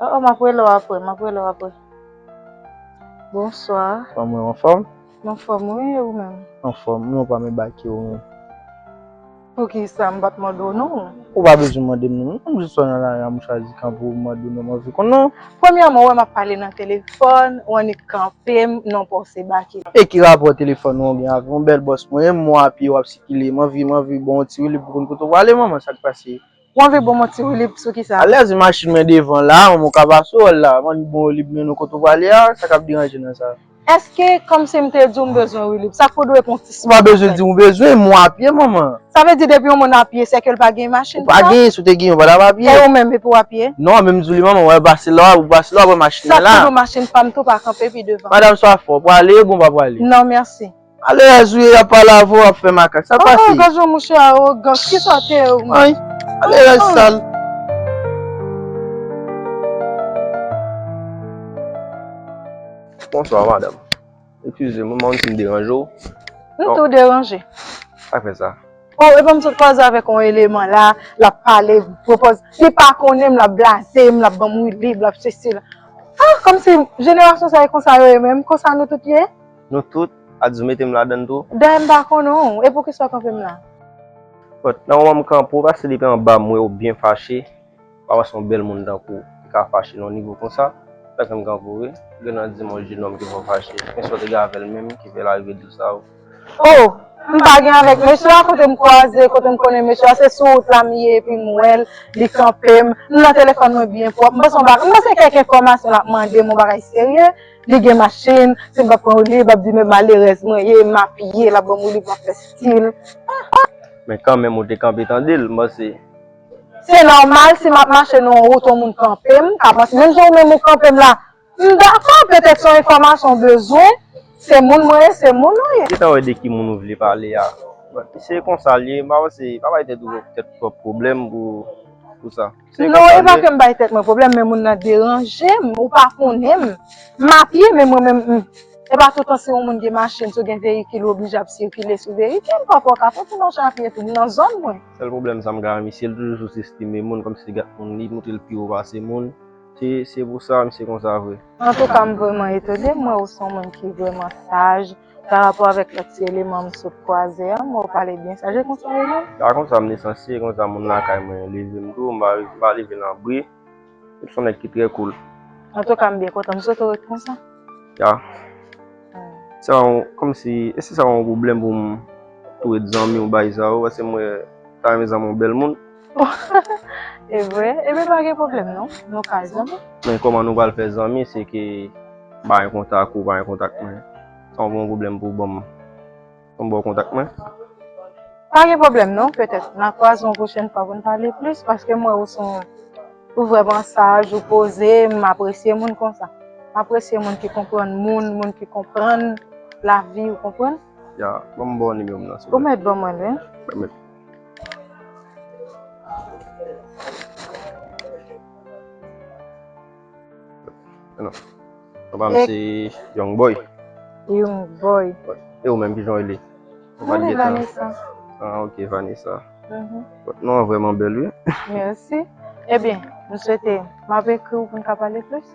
Oh, oh, map rele w apre, map rele w apre. Bonswa. Fwa mwen an fòm? Mwen fòm wi, e ou menm? An fòm, mwen pa men bake ou menm. Poukisa m pat mande w non? Ou pa bezwen mande m non, m jis wè nan lari a m chwazi kanpe ou m mande w non, m anvi konnen w. Premyèman ou wè map pale nan telefòn, ou annik kanpe m nan w pa w se bake. E ki rapò telefòn ou an gen avè m bèl bòs mwen, e m wè w a pye wap sikile, m anvi, m anvi ba w yon ti woulib pou konn kote w prale manman, sak pase? Ou anvi bon mwen ti woulib sou kisa? Alèz wi machin mwen devan la, manman w ka pase wè l la. M anvi bon woulib men nou kote w prale a, sa k ap deranje nan sa? Èske kòmsi m te di w m bezwen woulib, sa k pou dwe pou yon ti sipò konsèy? Ou pa bezwen di m ou bezwen, mwen apye manman. Sa vle di depi yon moun apye sè ke l pa gen machin pou sa? Ou pa gen, si w te gen ou pa t ap apye. E ou menm epi w apye? Non, men m di w li manman, wè pase la w pase la w ap wè machin mwen la. Sa k pou di w machin pa m tou pa kanpe pi devan? Madam swa fò, prale bon pa prale? Non mèsi. Alèz wi yap pale avè w wap fè makak sa pa fi. Gad jan mouche arogan ki sa te ye ou menm. Alèz sal. Bonswa madam. Eskize m mwen si m deranje w. Nou tou deranje. Sak fè sa. Oh epa m sot kwaze avèk yon eleman la lap pale pwopòz li pa konnen m lap blaze m lap ban m wi lib lap sesi la. Ah kòmsi jenerasyon sa e konsa yo ye menm konsa nou tout ye. Nou tout, Adzou mete m ladann tou. Dayè m pa konnen w, e poukisa w kanpe m la? But, nan moman m kanpe w, paske depi anba m wè w byen fache, m pa wè se yon bèl moun tankou w ki ka fache nan yon nivo konsa, se sa k fè m kanpe w wi. Gen nan di m yon jenòm ki fè w fache, men sa w te gen avè l menm ki fè l arive di w sa yo? Oh! M pa gen avèk mesye a, kote m kwaze, kote m konnen mesye a, se sou wout la m ye epi m wè l, li kanpe m, m nan telefòn mwen byen pwòp, m panse yon bagay, m panse kèk enfòmasyon l ap mande m, yon bagay serye. Li gen machin, si m pa pran oliv, l ap di men malerèz mwen ye, m apiye, l ap ban m oliv, m ap fè stil. Men kanmenm ou te kanpe tande l, m panse. Se nòmal si m ap mache nan yon wout yon moun kanpe m, ka panse menm jan ou menm ou kanpe m la. M dakò, petèt se yon enfòmasyon w bezwen, se moun mwen ye, se moun ou ye. Gentan wè de ki moun ou vle pale a. Si se konsa l ye, m pa panse, pa bay tèt ou tèt twòp pwoblèm pou sa. Se konsa Nou epa kem bay tèt mwen problèm men moun nan deranjem ou pa konnenm m a pye men mwen menm m Epa tout tan si on moun gen machin si w gen veyikil ou oblije ap sikile sou veyikil pafwa w ka fè ti mache apye tou m nan zòn mwen. Sèl problèm sa m ka wè misye l toujou sous estime moun kòmsi li gat moun li montre l pi wo pase moun se se pou sa misye konsa vre. Antouka m vrèman etone m wè ou son moun ki vrèman saj. Par rapport avèk lòt ti eleman m sot kwaze an, mwen ou pale byen sa, je konsa yo menm? Pa konsa m lisansye, konsa moun lakay mwen leve m tou, m pa m pa leve nan bri. M son nèg ki trè cool. Antouka m byen kontan, m swete w ret konsa. Ya. Se pa yon, kòm si, èske se pa yon pwoblèm pou m tou ret zanmi w bay sa yo, paske m wè, m ta renmen zanmi w bèl moun. E vre, e ben pa gen pwoblèm non, nou ka zanmi. Men kòman nou pral fè zanmi se ke m pa gen kontak ou, ou pa gen kontak mwen? Sa w pa yon pwoblèm pou w ban m, pou m ba w kontak mwen? Pa gen pwoblèm non, petèt n a kwaze yon pwochèn fwa pou n pale plis paske m wè ou son, ou vrèman saj, ou poze, m apresye moun konsa. M apresye moun ki konprann moun, moun ki konprann lavi, ou konprann? Ya, ban m ba w nimewo m nan silvouplè. Ou mèt ban mwen l wi. Mèt. Anon, papa m se Young Boy. Young Boy. E ou menm ki jan ou rele? Mwen se Vanessa. Ah ok, Vanessa. Vòt non an vrèman bèl wi. Mèsi. Ebyen, m swete m ap ekri w pou m ka pale plis.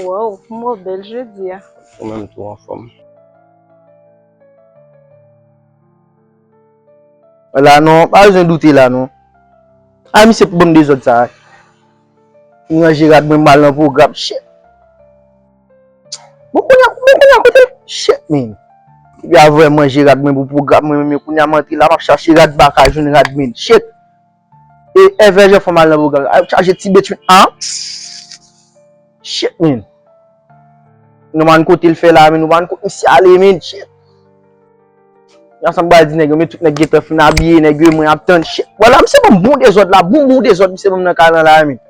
Woww m wè w bèl jodi a. Ou menm tou anfòm. An la non, pa bezwen doute la non. Ay misye pou banm dezòd sa. M ranje rad mwen mal nan pwogram shit. Bon kounya bon kounya kote l shit man. Epi avwè m ranje rad mwen pou pwogram mwen menm yo kounya m antre la map chache rad m paka jwenn rad man shit. E evè jan fanm al nan pwogram sa. Yo chaje ti betwit la. Shit min. Nou pa konn kote l fè la min. Nou pa konn kote misye ale min. Shit. Jan sa m pral di nèg yo min. Tout nèg gentan fin abiye. Nèg yo mwen ap tann. Shit. Wala misye banm bon dezòd la. Bon bon dezòd misye banm nan kay lan la min.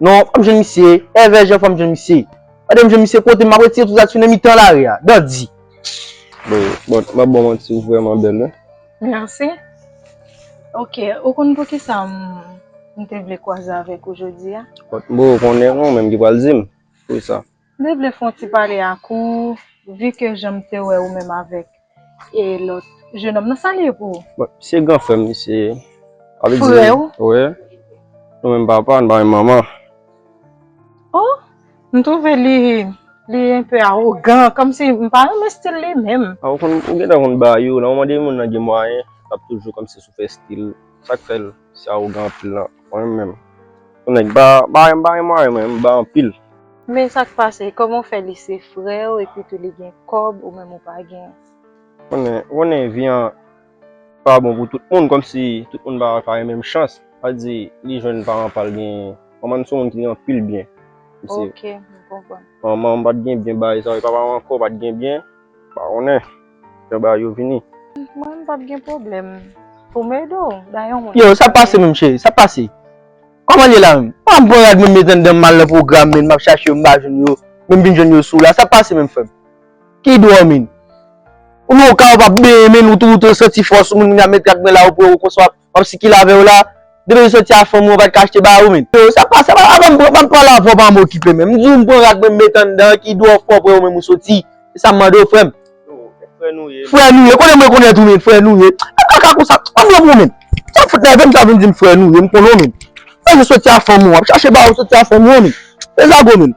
Non fòm jwenn misye. Evè jan fòm jwenn misye. Gade m jwenn misye kote m ap retire tout sa ki sou nan mitan lari a. Dandi. Bon. Bon. Map banm yon ti vrèman bèl la. Merci ok ou konn poukisa m te vle kwaze avèk ou jodia? Kot mou konnen ou menm ki pral dim poukisa. M te vle fon ti pale ak ou vi ke jan m te wè ou menm avèk e lòt jenòm nan sa li ye pou ou? Bon se gran frè m misye ye. Frè ou? Wi. Nou menm papa nou pa menm manman. Oh! M trouve li li un peu arrogant kom si m pa renmen stil li menm. A ou konn ou gentan konn ba yo nan moman de moun nan gen mwayen lap toujou kòm si sou fè stil sak fèl si arogan anpil nan mwen menm yon nèg ba ba m pa gen mwayen mwen m ba anpil. Men sak pase koman w fè li se frèw epitou li gen kòb ou menm ou pa gen. Ou konnen ou konnen vi an. pa bon pou tout moun kòmsi tout moun pa gen menm chans sa di li jwenn paran pal gen manman m se yon moun ki gen anpil byen ok m konprann manman m pat gen byen bay sa papa m ankò pat gen byen m pa konnen jan bagay yo vini mwen m pap gen pwoblèm pou m ede w bay yon moun yo sak pase menm cheri sak pase kòman l ye la menm pa m pran rad menm metan dan m mal nan pwogram menn m ap chache yo m pa jwenn yo menm vin jwenn yo sou la sak pase menm frè m. Ki dwomin? Ou menm ou ka wè wap benyen menn ou tou ou santi fòs ou menm met gad mwen la ou pran konswa wap sikile avèw la depi ou soti a fanm ou an pat ka achte bagay ou menn. Yo sa pa sa avan m pran pa m pale avè w pa m okipe menm m di w m pran rad mwen m met anndan ki dwòm fè w pran ou menm ou soti se sa m mande w frè m. Frè nou ye. Frè nou ye konnen mwen konnen tou menn frè nou ye pa kaka konsa pa m renmen w menn sa w fout nève m sa w vin di m frè nou ye m konnen w menn ou menm soti a fanm ou an wap chache bagay ou soti a fanm ou an menn se zago menn.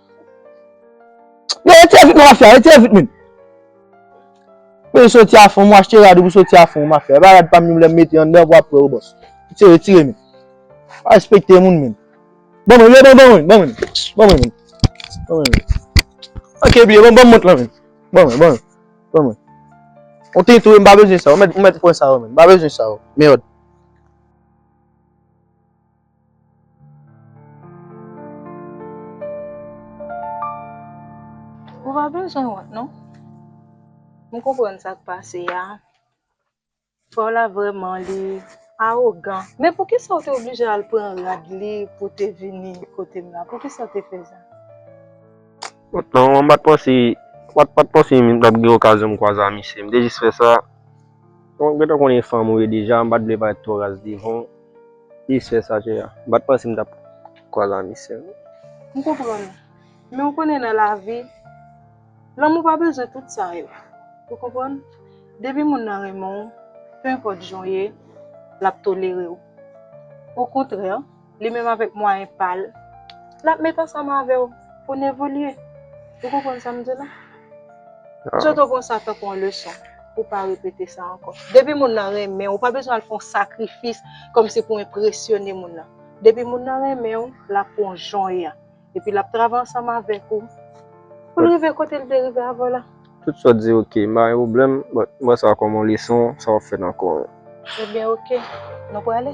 Yo rete vit nan mafya, rete vit menm. Mwen soti a fon, mwen achte rad ou mwen soti a fon mafya. Epa rad pam ni mwen lèm mete anndan vwa pwè ou bòs. Ti retire menm. Pa respekte moun menm. Bon mwen, yo bon bon mwen, bon mwen. Bon mwen menm. Bon mwen menm. Ok biye, bon bon mont lan menm. Bon mwen, bon mwen. Bon mwen. On te tou mwen pa bezwen sa, mwen mèt pwen sa ou menm. Mwen pa bezwen sa ou. Mèod. Ou pa bezwen wont non. M konprann sa k pase a. Frè w la vrèman li awogan. Men poukisa ou te oblije al pran rad li pou w te vini kote m la? Poukisa ou te fè sa? Wont non, m pa t panse m t ap gen okazyon m kwaze a misye. M te jis fè sa. Mwen gentan konnen fanm ou ye deja m pat vle parèt twò raz devan w plis fè sajè a m pat panse m tap kwaz ami sè m. M konprann ou men ou konnen nan lavi lanmou pa bezwen tout sa yo ou konprann depi moun nan renmen w penpòt jan w ye lap tolere w okontrè. li menm avèk mwayen pa l, l ap met ansanm avè w pou n evolye. Ou konprann sa m di w la? Sot ou pran sa tankou yon leson pou w pa repete sa ankò. Depi moun nan renmen w, ou pa bezwen al fè yon sakrifis kòmsi pou w enpresyone moun nan. Depi moun nan renmen w, l ap pran w jan w ye a. Epi l ap travay ansanm avèk ou pou l rive kote l te rive avè w la. Tout sa w di ok, m pa gen pwoblèm, but m wè sa kòm yon leson, sa w ap fè nan kò w. Ebyen ok, nou prale.